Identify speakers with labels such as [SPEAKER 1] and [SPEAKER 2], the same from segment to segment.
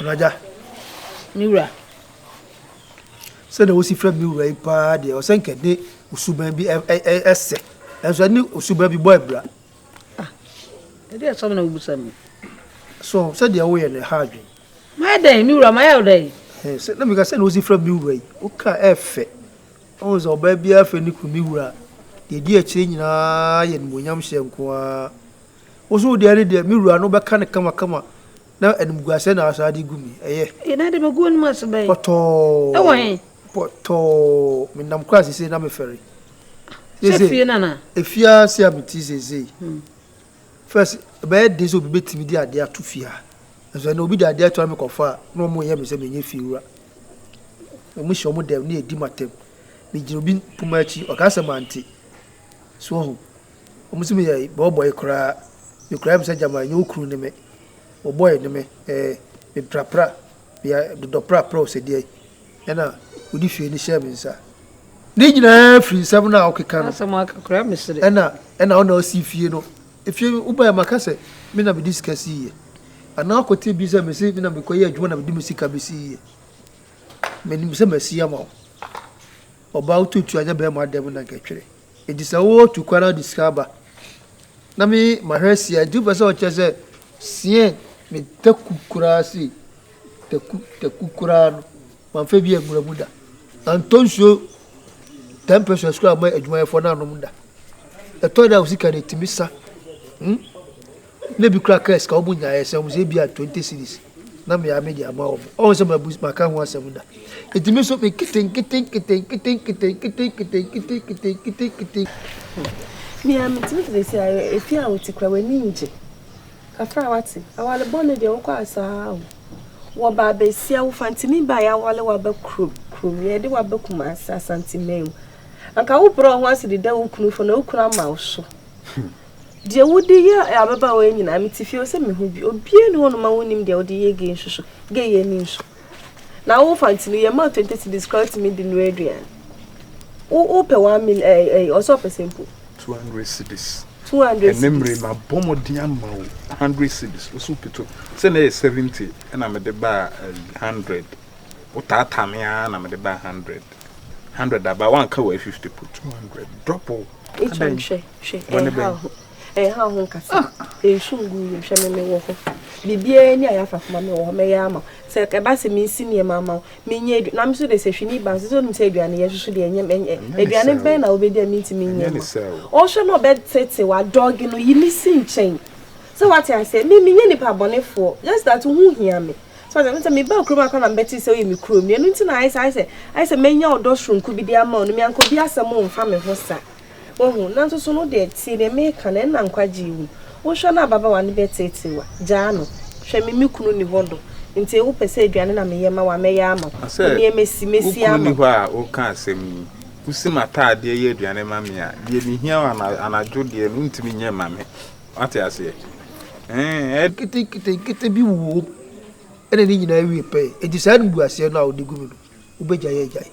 [SPEAKER 1] Raja. Me wura.
[SPEAKER 2] Sɛdeɛ wosi frɛ me wura yi paa deɛ ɔsɛ nkɛ de osuban bi ɛsɛ ɛnso ɛne osuban bi bɔ abira. Ah,
[SPEAKER 1] ɛdeɛ ɛsɔm na wobusa mu. So
[SPEAKER 2] sɛdeɛ woyɛ no ɛha adwene. Mayɛ dɛn me
[SPEAKER 1] wura mayɛ wo dɛn? Sɛ na meka sɛ na
[SPEAKER 2] wosi frɛ me wura yi woka ɛfɛ Woahu sɛ ɔbaa biara frɛ ne kunu ne wura, deɛ ɛdi akyire nyinaa yɛ animuonyamhyɛ nko ara. Wo nso wo deɛ ne deɛ, me wura no, wobɛka no kamakama, na animguaseɛ na woasan de agu me. Ɛyɛ. Ee, na deɛ magu w'anom
[SPEAKER 1] ase bɛn? Pɔtɔɔ. Wɔ he? Pɔtɔɔ.
[SPEAKER 2] Menam koraa seesei na mefɛre. Sɛ fie
[SPEAKER 1] no anaa? Efie ara
[SPEAKER 2] sei a mete seesei. First, ɛbɛyɛ den sɛ obi bɛtumi de adeɛ ato fie ha. Nanso ɛnna obi de adeɛ ato ha me kɔfa a, na wɔn yɛ me sɛ menyɛ fie wura. Wɔn hyɛ wɔn dɛm na yɛdi mu atɛm. Megyina obi poma akyi, ɔka sɛ mante. So wɔn ho. Wɔn sɛ meyɛ bɔɔbɔe koraa. Me koraa yɛ me sɛ gyama ɛnyɛ okunu ne me. Bɔɔbɔe ne me. Ɛɛ, me prapra, me dodɔ prapra o sɛ deɛn. Ɛna ɔde hwiee no hyɛɛ me nsa. Ne nyinaa firi nsɛm no a wokeka no. Asɛm aka koraa mesere. Ɛna ɛna wo na wosi fie no. Efie wobaeɛ maka sɛ me na mede sika siiɛ. Anaa woakɔte bi sɛ mese me na mekɔyɛ adwuma na mede me sika bɛsiiɛ. Menim sɛ masi ama wo. Ɔbaa wotuatua anyɛ bɛrima dɛm na anka ɛtwere. Enti sɛ wo tu kwan na wode sika ba na me ma hwɛ sia nti wopɛ sɛ ɔkyerɛ sɛ siɛn me taku koraa sei taku taku koraa no mamfa bi angura mu da antɔ nsuo ten pesos koraa ma adwumayɛfoɔ no anom da ɛtɔ da a wo sika no ɛtumi sa hmm? Nna ebi koraa kaa sika a wobonyaeɛ sɛ wɔn sɛ ebia twenty cedis na me ara mede ama wɔn. Ɔhu sɛ mabu maka ho asɛm da. Enti me nso me nketenkete nketenkete nketenkete nketenkete nketenkete
[SPEAKER 3] nketenkete. Nea metumi ka seesei ara, efi a wote koraa w'ani ngye. Kakra a wate. Awale bɔne deɛ wokɔ asaa o. Wɔba abɛsia wo fantini baa yɛawale wo aba kurom kurom yɛde wo aba Kumasi Asanteman mu. Anka wobrɛ wo ho ase deda wo kunu fam na wo kunu ama wo so. Deɛ wode yɛ ababaawa yi nyinaa mete fie o sɛ mehu bi obiara ni hɔ nom a wonim deɛ wode yɛ gay nso so gay yɛ ani nso na wo fanti no yɛ ma 20 cities kora tumi di no aduan wo wo pɛ 1 mil ɛɛ ɛɛ ɔsɛ ɔpɛ sɛ mpo 200 cities
[SPEAKER 4] 200 cities ɛnɛ mmerɛ
[SPEAKER 3] ma bɔ
[SPEAKER 4] mɔden ama wo 100 cities wo so pito sɛ na yɛ 70 ɛna mede baa 100 wo taataa me ara na mede baa 100 Hundred aba wan ka wɔ fifty po two hundred double. Etu nhwɛ
[SPEAKER 3] hwɛ ɛyɛ ha ho ɛyɛ ha ho nkasa nsu ngu yɛ hwɛ mɛmɛ wɔ hɔ bibiara ni a yafa fama mɛ wɔ hɔ mɛyɛ ama sɛ ɛba sɛ mi nsi nneɛma ama wo mi nyɛ aduane na mi nso de sɛ hwini ba nso sɛ onim sɛ aduane yɛ soso deɛ nyɛ ɛnyɛ aduane bɛn na obedi a mi nti mi nyɛ ma ɔhwɛ na ɔbɛ tete wa dɔɔge no yi mi si nkyɛn sɛ wate aseɛ mi mi nyɛ nipa abɔnefoɔ just that ho hia mi. So ate aseɛ? Sɛ mebaa kurom a koraa na mebɛte sɛ woyɛ me kuroni. Ɛno nti na ayɛ sɛ, ayɛ sɛ, ayɛ sɛ manya ɔdɔ soronko bi de ama wo no, me anka obi asɛm mfa me ho sa. Woahu? Nanso so no wodeɛ, tie deɛ mereka no, ɛnna nkwagye yi wom. Wohwɛ na ababaawa no bɛteetee wo a, gyaa no. Hwɛ, me me kunu nni hɔ do, nti wopɛ sɛ aduane na meyɛ ma wo a, mɛyɛ ama wo. Wo deɛ masi, masi ama wo. Sɛ wo kunu nni hɔ a woreka
[SPEAKER 4] asɛm yi, wosi m'ataadeɛ yɛ aduane ma me a, deɛ mehia anadwo deɛ no wontumi nyɛ mma me. Wate aseɛ? Ɛɛ, ɛ. Nketenketenkete bi wɔ mu, ɛna ne nyinaa wie pɛɛ. Enti saa animguaseɛ no a wɔde gu mu no, wobɛgyae agyae.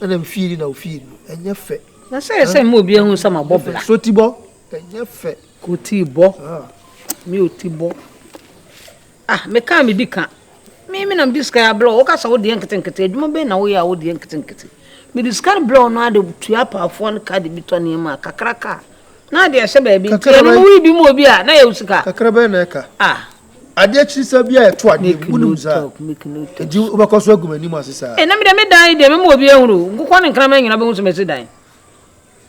[SPEAKER 4] Ɛna wo fie ni na wo fie ni no, ɛnyɛ fɛ. Na sɛ ɛyɛ sɛ mma obiara
[SPEAKER 1] nhu sɛ mabɔ bra. Sotibɔ,
[SPEAKER 2] ɛnyɛ fɛ. Kotibɔ,
[SPEAKER 1] me otibɔ. Ah me kaa me di ka. Me me na me di sika ya blɔ. Woka sa wo deɛ nkete nkete. Adwuma bɛn na wo yɛ a wo deɛ nkete nkete. Me di sika no blɔ no ade tua apaafoɔ no ka de bi tɔ nneɛma kakra ka. Na ade ɛhyɛ baabi nti ɛno no woyi bi mu obi a na yɛ wo sika. Kakra bɛn na ɛka. Ah. Adeɛ akyiri sa
[SPEAKER 2] bi a ɛto adeɛ mu wonim saa. Nti wobɛkɔ so agu m'anim ase saa. Ɛna me deɛ me dan yi deɛ me ma obi ahunu. Nkokɔ ne nkraman nyinaa bɛhu sɛ masi dan.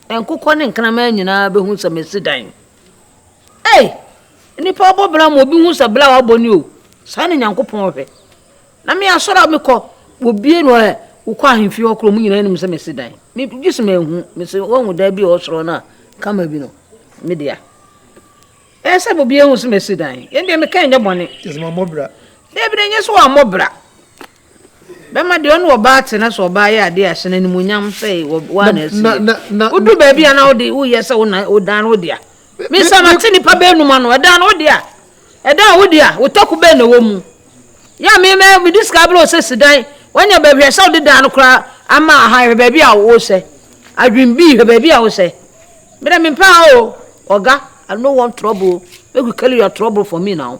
[SPEAKER 2] Nkokɔ ne nkraman nyinaa bɛhu sɛ masi dan. Ei! Nnipa abɔ bra ma obi hu sɛ bra a wabɔ ni o. Saa na Nyankopɔn hwɛ. Na me asɔre a mekɔ, wɔbie no ɛ, wokɔ ahemfie hɔ korɔ, ɔmo nyinaa nim sɛ mesi dan. Me gye sɛ manhu, mese wɔahu dan bi a ɔsoro no a, kama bi no, me dea. Ɛyɛ sɛ obiara hu sɛ mesi dan. Yɛn deɛ meka nyɛ bɔne. Kyerɛ sɛ mammɔ bra. Dabi da nyɛ sɛ wammɔ bra. Bɛma deɛ ɔne ɔbaa te na sɛ ɔbaa yɛ adeɛ a hyɛ no animuonyam sɛ wo ara na asi yɛ. Wodu baabi a na wode woyɛ sɛ wodan no wodea. Me nsa mate nnipa baanum ano ɛdan no wodea. Ɛdan a wodea wo tako bɛn na ɛwɔ mu? Yɛ a me mɛ mede sika abrɛ wo sɛ si dan wanya baabi hwɛ sɛ wode dan no koraa ama aha hwɛ baabi a wosɛ. Adwene bi hwɛ baabi a wosɛ. Mede mempɛ ha o. Ɔga I don't want trouble o. Make you carry your trouble for me now.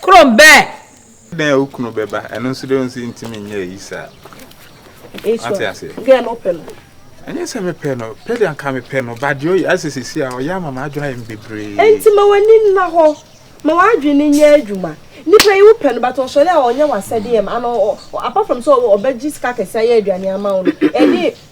[SPEAKER 1] Krom bɛɛ. Dɛn
[SPEAKER 4] a wo kunu bɛba ɛno nso dɛ nso ntumi nyɛ ayi saa ate ase
[SPEAKER 3] gɛ no pɛ no ɛnyɛ sɛ mepɛ
[SPEAKER 4] no pɛ de anka mepɛ no ba deɛ ɔyɛ asɛ sisi a ɔyɛ ama m'adwene ayɛ me bebree nti ma w'ani nna
[SPEAKER 3] hɔ ma w'adwene nyɛ adwuma nipa yi wopɛ no but ɔsɔre a ɔnyɛ w'asɛdeɛ m ano apart from sɛ ɔbɛgye sika kɛse ayɛ aduane ama wo no ɛne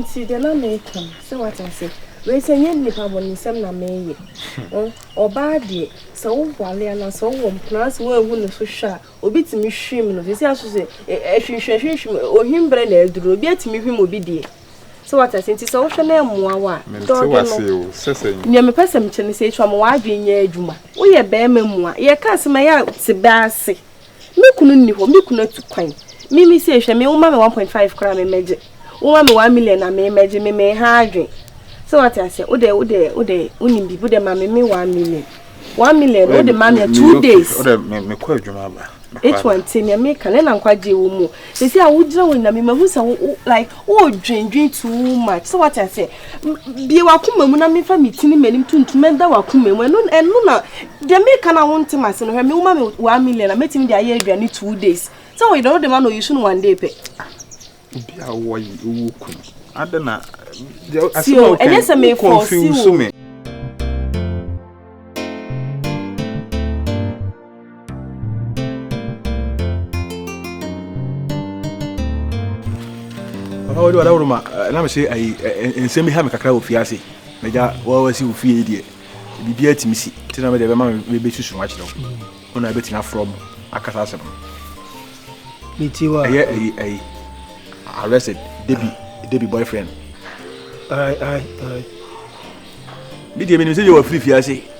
[SPEAKER 3] Nti deɛ na meka no sɛ wate ase wei sɛ nyɛ nnipa bɔnesɛm na meyɛ ɔbaa deɛ sɛ wowale anaasɛ wowɔ mpena sɛ woanhu ne so hwɛ a obi tumi hwim no sɛsi aso sɛ ɛhwinhwɛ hwinhwim ohwim berɛ na aduru obi atumi hwim obi deɛ sɛ wate ase nti sɛ wohwɛ na ɛmmoa wo a dɔɔdɔ
[SPEAKER 4] no nea mepɛ
[SPEAKER 3] sɛ mekyɛ no sɛ ɛtwa ma w'adwene nyɛ adwuma woyɛ bɛrima mu a yɛka asɛm ɛyɛ te bɛ ase Me kunu nni hɔ, me kunu atu kwan. Me me sei hwɛ me woma me one point five koraa me mmɛgye, woma me one million a me mmɛgye, me me ha adwen. Sɛ wate aseɛ, wode wode wode wonim biribi, wode ma me me one million. One million no wode ma me two days. Wode me mekɔ adwuma
[SPEAKER 4] aba. Etu ante nea
[SPEAKER 3] meka, ne na nkwagye wɔ mu. Sisi a wo gyina wo nyame ma hu sɛ wo like wo dwen dwen too much so what I say bie wa kuma mu na me fa me tini m'anim tuntum ɛda wa kuma mu ɛno ɛno na de me ka na wo ntem ase no hwɛ me wo ma me 1 million na metimi de ayɛ aduane 2 days sɛ wo yɛ no de ma no you soon one day pɛ obi a
[SPEAKER 4] wo yi wo kun adana asɛ
[SPEAKER 3] o ɛnyɛ sɛ me confuse me
[SPEAKER 2] papa wode wada woroma eh, na mese ayi eh, eh, nsɛm bi ha me kakra wɔ fie ase magya wawasi wo fie yi deɛ biribiaa tumi si nti na mede bɛma mebɛsusu ho akyerɛ wo wona bɛtumi afrɛ mu akasa asɛm ɛyɛ
[SPEAKER 5] ayi ayi
[SPEAKER 2] arrested debi debi boyfriend medeɛ menim sɛ yɛwɔ firi fie ase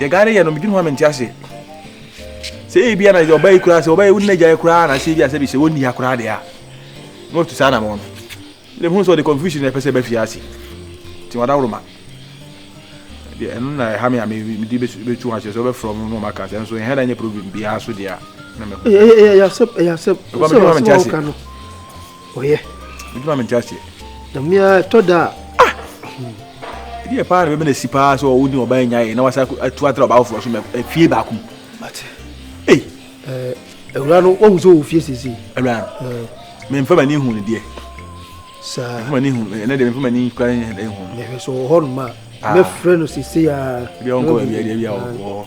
[SPEAKER 2] Deɛ Ghana yɛ no, medwene ho a mente ase. Sɛ ebi ana deɛ ɔba yi koraa sɛ ɔba yi wo nna gyae koraa na sɛ ebi asɛ bi sɛ wɔnni ha koraa deɛ a na wɔtu saa anamɔ no. Deɛ mehu sɛ ɔde confusion na ɛpɛ sɛ ɛba fie ase. Nti wadaworoma. Deɛ ɛno na ɛha me a mede bɛtu ho ahyɛ sɛ wɔbɛfrɛ ɔmo na ɔmaka sɛ nso ɛha da nyɛ problem biara so deɛ a na mehu. Ɛyɛ asɛm, ɛyɛ
[SPEAKER 5] asɛm. Ɛkɔ me dwene ho a mente ase. Ɔyɛ. Bɛtumi ma mente aseɛ.
[SPEAKER 2] Dame a
[SPEAKER 5] ɛtɔ da a. Ah!
[SPEAKER 2] Ɛdeɛ paa na bɛbɛ na si paa sɛ ɔwo ne ɔbaa nya yɛ na wasa atu atra ɔbaa foforɔ so ma fie baako mu. Mate.
[SPEAKER 5] Ei.
[SPEAKER 2] Awura no wahu sɛ ɔwɔ fie sese.
[SPEAKER 5] Awura no.
[SPEAKER 2] Memfa m'ani hu no deɛ. Saa.
[SPEAKER 5] Memfa m'ani hu ɛnɛ
[SPEAKER 2] deɛ memfa m'ani kura hu no. Mehwɛ sɛ ɔwɔ hɔ nom a.
[SPEAKER 5] Mɛfrɛ no sese a. Ebi a ɔnkɔ baabi a deɛ bi
[SPEAKER 2] a ɔwɔ hɔ.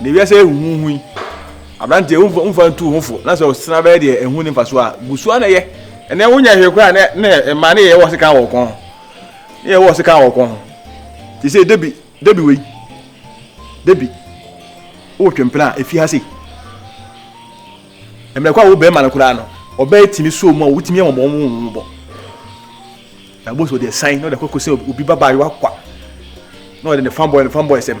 [SPEAKER 2] Na wiase yi ahuhuhu yi, aberanteɛ wo nfa nfa ntu wo ho fo na sɛ ɔsena bɛyɛ deɛ ɛho ni nfa so a, gu so na yɛ. Ɛnɛ wo nyɛ hwee koraa na na ɛma ne yɛ wɔ sekan wɔ kɔn ho. Ne yɛ wɔ sekan wɔ kɔn ho. Te sɛ Debi, Debi wei. Debi. Wo twe mpena a efi ha sei.
[SPEAKER 6] Ɛmɛ kɔ a wo bɛrima no koraa no, ɔbɛyɛ ti ne so mu a wotumi yɛ wɔn wɔn wɔn bɔ. Na boso deɛ san na ɔde kɔ kɔ sɛ obi ba baayewa kwa. Na ɔde ne fanboy ne fanboy sɛm.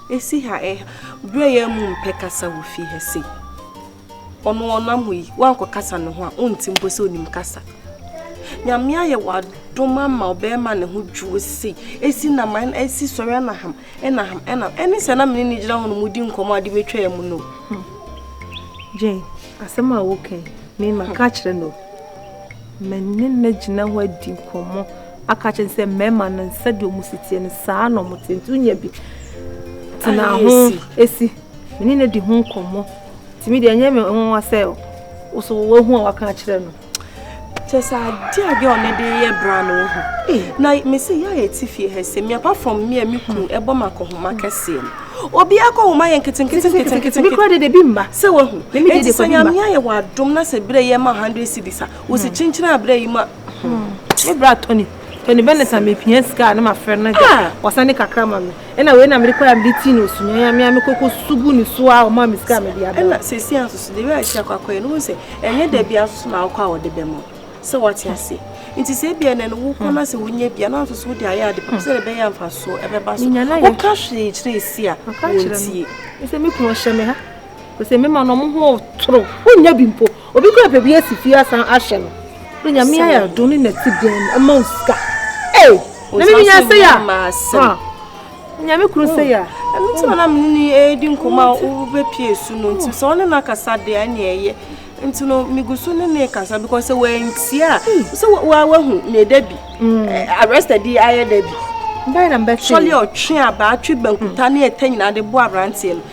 [SPEAKER 3] Esi ha eh Berɛ yɛ mu mpɛ kasa wɔ fie ha sei Ɔno ɔnam hɔ yi woankɔ kasa ne ho a ɔnte mpo sɛ ɔnim kasa Nyame ayɛ wadom ama ɔbɛrima ne ho dwoɔ sei Esi na man esi sɔre ɛna ham ɛna ham ɛna ɛne sɛ na mene ne gyina hɔ no mu di nkɔmɔ ade mɛtwa yɛ mu no hmm.
[SPEAKER 7] Jane asɛm a woka yi mema ka kyerɛ no mene na gyina hɔ adi nkɔmɔ aka akyerɛ no sɛ mmarima no sɛdeɛ wɔn si teɛ no saa na wɔn te nti wonya bi tena ho esi me ne no di ho nkɔmmɔ tumi deɛ ɛnyɛ me nwa sɛ woso woahu a waka akyerɛ no kyɛ sɛ adeɛ a girl no de yɛ bra no wo ho na mese yɛ a yɛte fie ha sɛ me apart from me a me kunu ɛbɔ ma akɔhoma kɛseɛ no obi akɔ homa yɛ nketenketenketenketenkora de de bi mma sɛ wahu ɛnti sɛ nyame ayɛ wɔ adom na sɛ berɛ yɛ ma 100 cities a wo se kyenkyena berɛ yi ma me bra tɔni tɔni bɛ ne sa mepia sika ne mafrɛ no gya ah! wɔsa ne kakra ma me ɛna wei na mede kɔɛ a mede tii no osunyɛn a mea mekɔkɔ sugu ne so a ɔma me sika a mede aba ɛna sɛsi ansoso de wei ahyia kwakɔɛ no wo sɛ ɛnyɛ da bia nsoso na wokɔ a wɔde bɛ mɔ sɛ wate aseɛ nti sɛ bia nɛ no wokɔ no sɛ wonya bia na nsoso wode ayɛ ade pɛpɛ sɛ de bɛyɛ amfasoɔ ɛbɛba so woka hwee kyerɛ ɛsi a wɔntie sɛ me kunu ɔhyɛ me ha Ose me ma no mo ho toro. Wonya bi mpo. Obi kura baabi asi fie asan ahyɛ no. Ode nyame ayɛ adom ne na si dan mu ama wo sika. Ei, na me nya sɛ ya. Ha. Nyame kuru sɛ ya. Ɛno ti na me ni e di nkoma wo be pie su no nti sɛ ɔne na kasa de a ne ɛyɛ. Nti no me gusu ne ne kasa because sɛ wantia sɛ wa wa hu ne da bi. Arrested di ayɛ da bi. Mbɛ na mbɛ sɛ. Sɔle ɔtwe aba atwe bankuta ne ɛtɛ nyina de bo abranteɛ no.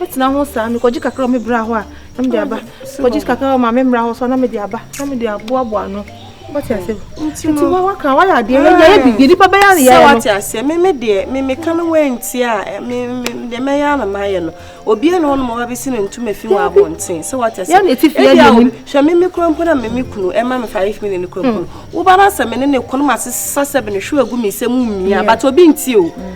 [SPEAKER 7] Mɛtena ho saa, mekɔgye kakra wɔ me bra hɔ a, na mede aba. Kɔgye kakra wɔ maame mmra hɔ so a, na mede aba, na mede aboaboa ano. Wate ase? Nti wa waka wayɛ adeɛ yɛ yɛ yɛ bibi nipa bɛyɛ ne yɛ no. Sɛ wate ase, me me deɛ me me ka no wɔ nti a eh, me me deɛ mɛyɛ ana mayɛ no. Obi ɛna ɔno ma wabɛsi ne ntoma fi wɔ abɔnten. Sɛ wate ase. Yɛ na eti fi yɛ yɛ nim. Hwɛ me me kura mpo na me me kunu ɛma me five million kura mpo. Wo ba na sɛ me ne ne kɔn ma sesa sɛ bene hwɛ agu me sɛ mu mmia, but obi nti o.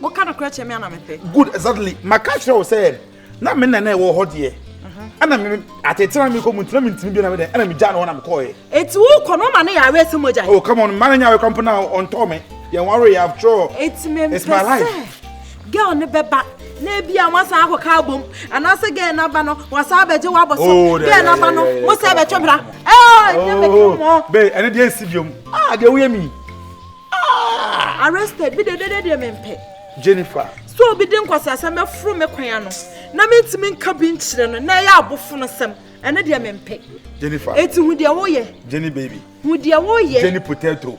[SPEAKER 4] Mo ka nokorɛ kyerɛ me ana
[SPEAKER 3] mepɛ. Good exactly maka
[SPEAKER 4] kyerɛ wo sɛ na me nana ɛwɔ hɔ deɛ. Ɛna mhm. me atetena mi kɔ mu ntina mi ntini bi na mi dɛ ɛna mi gya na hɔ na mi kɔɔ yɛ. Eti wo kɔ no ma ne yɛ awɛ sɛ mo gya. Oh come on mmaa na nya awɛ kɔmpo na ɔntɔ mi yɛn wari yɛ after Eti mi mpɛ sɛ girl ne bɛ ba na
[SPEAKER 3] ebi a wɔn asan akɔ kaa bom anaasɛ girl n'aba no wɔn asan abɛgye wɔn abɔ so oh, girl n'aba no mo sɛ ɛbɛtwe bra. Ɛɛ ɛnyɛ mɛ kiri mɔ. Bɛɛ ɛne deɛ
[SPEAKER 6] nsi biom. Ah deɛ woyɛ mi. Ah! Arrested,
[SPEAKER 3] me dedede deɛ mempɛ. Jennifer.
[SPEAKER 6] So obi de
[SPEAKER 3] nkwaseasɛm bɛforo me kwan ano na mentumi nka bi nkyerɛ no na ɛyɛ abofono sɛm. Ɛno deɛ mempɛ. Jennifer. Eti
[SPEAKER 6] hu
[SPEAKER 3] deɛ woyɛ. Jenny
[SPEAKER 6] baby.
[SPEAKER 3] Hu deɛ
[SPEAKER 6] woyɛ.
[SPEAKER 3] Jenny potato.